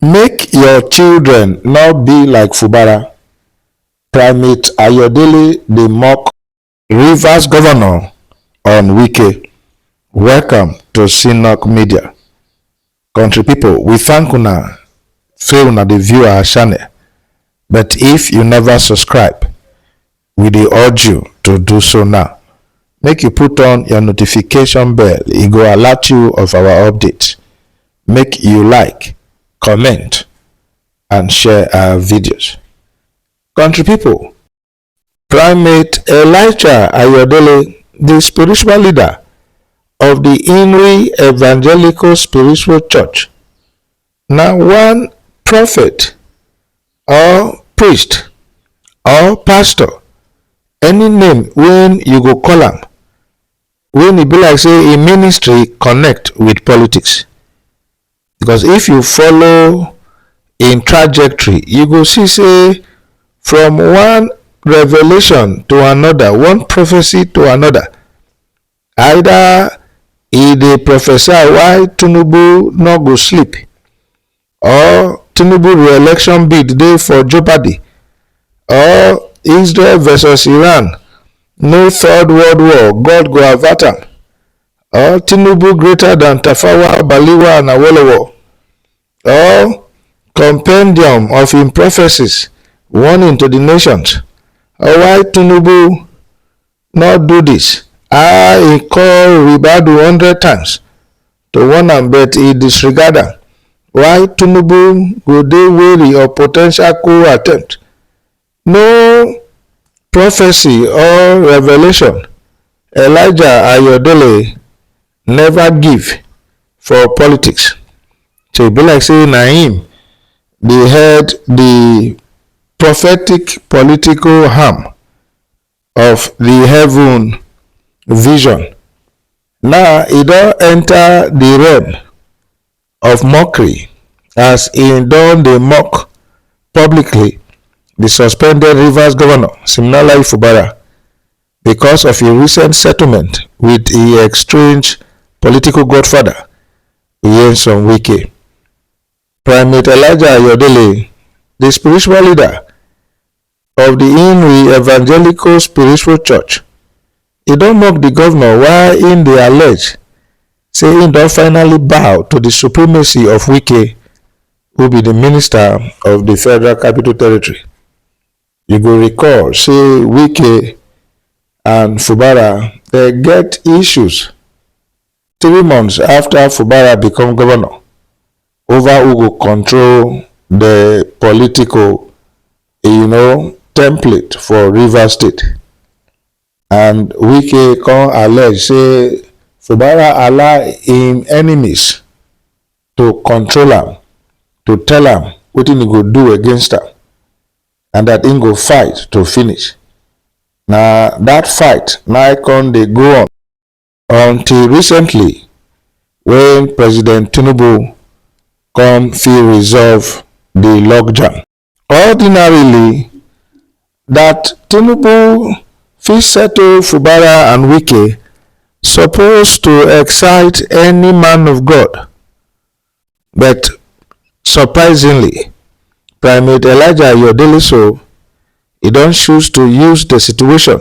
Make your children no be like Fubara, Primate Ayodele dey mock. Rivers Governor on Wike, Welcome to Synock Media. Country pipo we thank una say una dey view our channel but if you never subscribe, We dey urge you to do so now. Make you put on your notification bell, e go alert you of our update. Make you like, comment and share our videos. Country people, Primate Elijah Ayodele, the spiritual leader of the Inri Evangelical Spiritual Church, Na one prophet or priest or pastor, any name wey you go call am, wey e be like sey im ministry connect with politics. Because if you follow im trajectory, you go see sey from one revelation to another, one prophecy to another, either e dey prophesy why tinubu no go sleep or tinubu re-election bid dey for jeopardy or israel versus iran no third world war god go avert am or tinubu greater than tafawa balewa and awolowo or compendium of im prophecies warning to di nations or why tinubu no do this ah he call ribadu hundred times to warn am but he disregard am why tinubu go dey wary of po ten tial coup attempt no prophecy or revelation elijah ayodele never give for politics so e be like say na him dey head the prophetic political arm of the heaven vision. Now he don enter the realm of mockery as he don dey mock publicly the suspended Rivers governor Siminalayi Fubara because of a recent settlement with a estranged political godfather Nyesom Wike. Primate Elijah Ayodele, the spiritual leader of the Inri Evangelical Spiritual Church, e don mock the governor why im dey allege say im don finally bow to the supremacy of Wike, who be the minister of the Federal Capital Territory. You go recall say Wike and Fubara dey get issues three months afta fubara become govnor ova who go control di political um template for rivers state and wike come allege say fubara allow im enemies to control am to tell am wetin e go do against am and dat im go fight to finish na dat fight na come dey go on. until recently wey president tinubu come fit resolve di logjam ordinarily dat tinubu fit settle fubara and wike suppose to excite any man of god but surprisingly primate elijah ayodele so e don choose to use di situation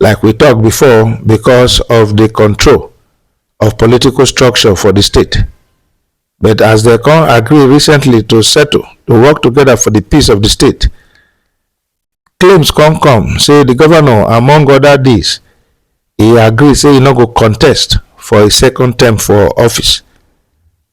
like we talk before because of the control of political structure for the state but as they come agree recently to settle to work together for the peace of the state claims come come say the governor among other things he agree say he no go contest for a second term for office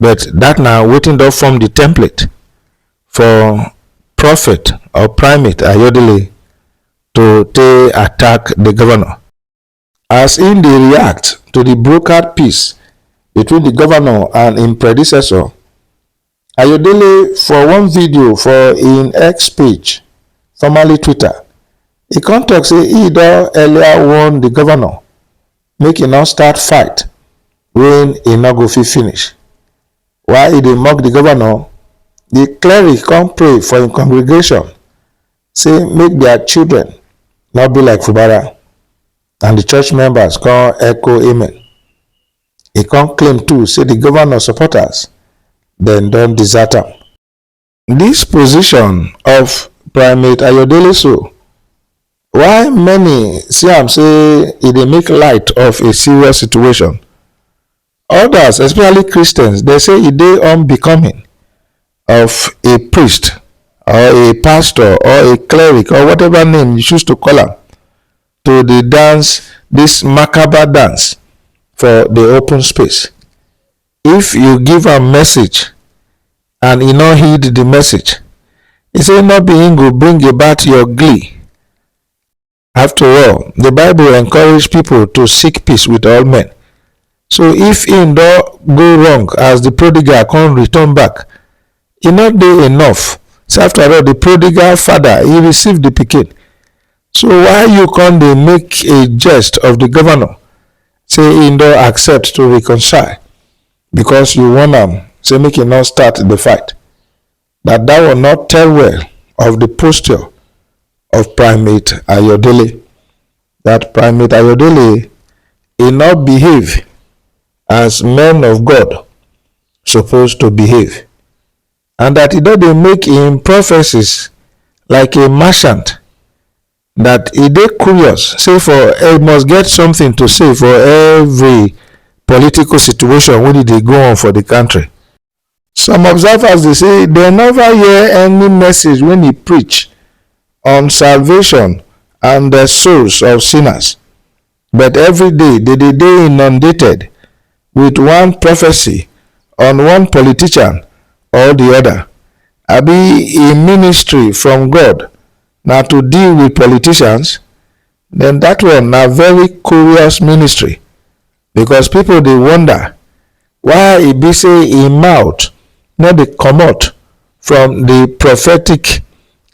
But that na wetin don form the template for prophet or primate Ayodele to take attack the governor. As im dey react to the brokered peace between the governor and im predecessor, Ayodele for one video for im X page, formerly Twitter, e come talk say e don earlier warn the governor make e no start fight wen e no go fit finish. While e dey mock di governor, di cleric come pray for im congregation say make dia children no be like Fubara, and di church members come echo amen. E come claim too say di governor supporters dem don desert am. Dis position of Primate Ayodele so, while many see am say e dey make light of a serious situation, odas especially Christians dey say e dey unbecoming of a priest or a pastor or a cleric or whatever name you choose to call am to dey dance dis makabar dance for di open space. If you give am message and e no heed the message, e say no be him go bring about your glee. After all, the Bible encourage people to seek peace with all men. So if him don go wrong as the prodigal come return back, e no dey enough. So after all, the prodigal father, he received the pikin. So why you come dey make a jest of the governor say im don accept to reconcile because you warn am say make e no start the fight, that that one no tell well of the posture of Primate Ayodele. That Primate Ayodele e no behave as men of God suppose to behave and that e don dey make im prophecies like a merchant dat e dey curious say for e must get something to say for every political situation wey dey go on for di country. Some observers dey say dem neva hear any message wey e preach on salvation and souls of sinners, But every day dey dey dey inundated with one prophecy on one politician or the other. Abi im ministry from God na to deal with politicians? Then that one na very curious ministry because people dey wonder why e be say im mouth no dey comot from the prophetic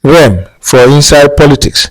realm for inside politics.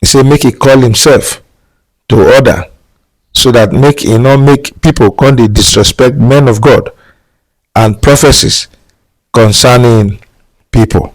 He say make he call himself to order so that make he no make people come dey disrespect men of God and prophecies concerning people.